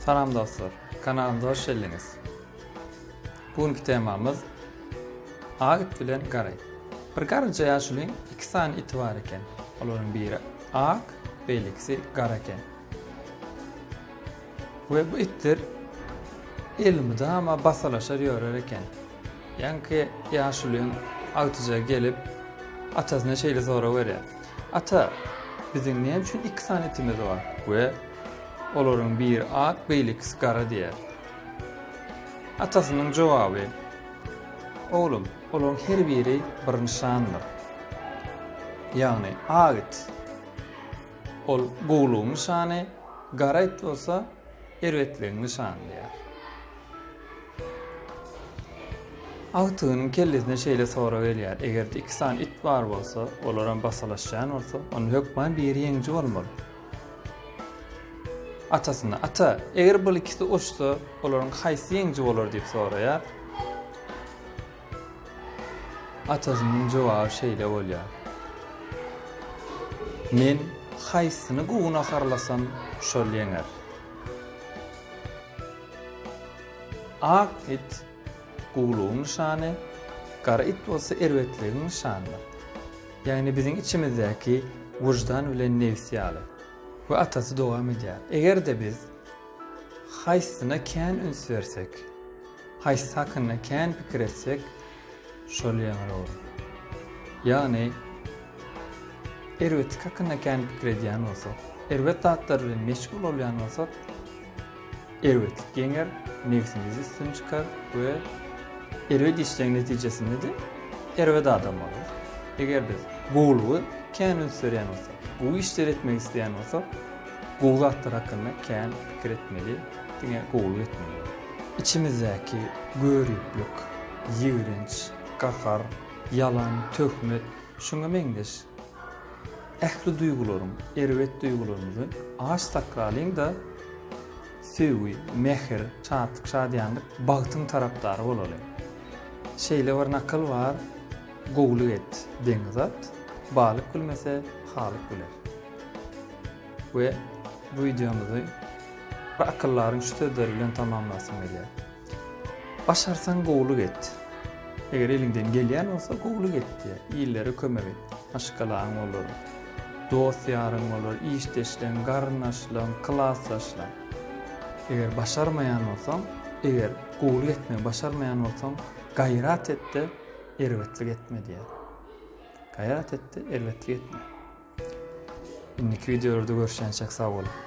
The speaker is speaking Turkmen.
Salam dostlar, kanalymda hoş geldiniz. Bugünkü temamyz Agit bilen Garay. Bir garynca yaşulyň iki sany iti bar eken. Olaryň biri ak, beýlekisi gara eken. We bu itler elmydama basalaşar ýörer eken. Ýaňky ýaşulyň agtyjagy gelip, atasyna şeýle sorag berýär, Ata, biziň näme üçin iki sany itimiz bar? We olaryň biri ak, beýlekisi gara diýýär. Atasynyň jogaby, Oglum, olaryň her biri bir nyşandyr. Ýagny, ak it. Ol gowulygyň nyşany, gara it bolsa erbetligiň nyşany diýýär. Agtygynyň kellesine şeýle sorag gelýär, Eger-de iki sany it bar bolsa, olaram basalaşýan bolsa, onda hökman biri ýeňiji bolmaly. Atasyna, Ata, eger bul ikisi urşsa, olaryň haýsy ýeňiji bolar diýip soraýar. Atasynyň jogaby şeýle bolýar. Men haýsyny gunaharlasam şol ýeňer. Ak it guwlugyň nyşany, gara it bolsa erbetligiň nyşanydyr. Ýagny biziň içimizdäki wyždan bilen nebs ýaly. We atasy dowam edýär. Eger-de biz haýsyna kän üns bersek. Haýsysy hakynda kän pikir etsek, şol ýeňil bolar. Ýagny, erbetlik hakynda kän pikir edýän bolsak, erbet zatlar bilen meşgul bolýan bolsak, erbetlik ýeňer, nebsimiz üstün çykar we erbet işleň netijesinde-de erbet adam bolarys. Eger biz gowulygy kän üns berýän bolsak, gowy işleri etmek isleýän bolsak, Gowy zatlar hakynda kän pikir etmeli, diňe gowulyk etmeli. Içimizdäki göriplik, ýigrenç, gahar, ýalan, töhmet, şuňa meňzeş ähli duýgularyň, erbet duýgularymyzy aç sakralyň-da, söýgi, mähir, şatlyk, şadyýanlyk, bagtyň tarapdary bolalyň. Şeýle bir nakyl bar, Gowulyk et, deňiz at, balyk bilmese, halyk biler. We bu wideomyzy bir akyldaryň şu sözleri bilen tamamlasym gelýär. Başarsaň gowulyk et. Eger eliňden gelýän bolsa gowulyk et diýýär. Illere kömek et. Maşgalaň bolar, dost-ýaryň bolar, işdeşleň, garyndaşlaň, klasdaşlaň. Eger başarmaýan bolsaň, eger gowulyk etmegi başarmaýan bolsaň, gaýrat et-de, erbetlik etme diýýär. Gaýrat et-de, erbetlik etme. Indiki wideolarda görüşýänçäk sag boluň.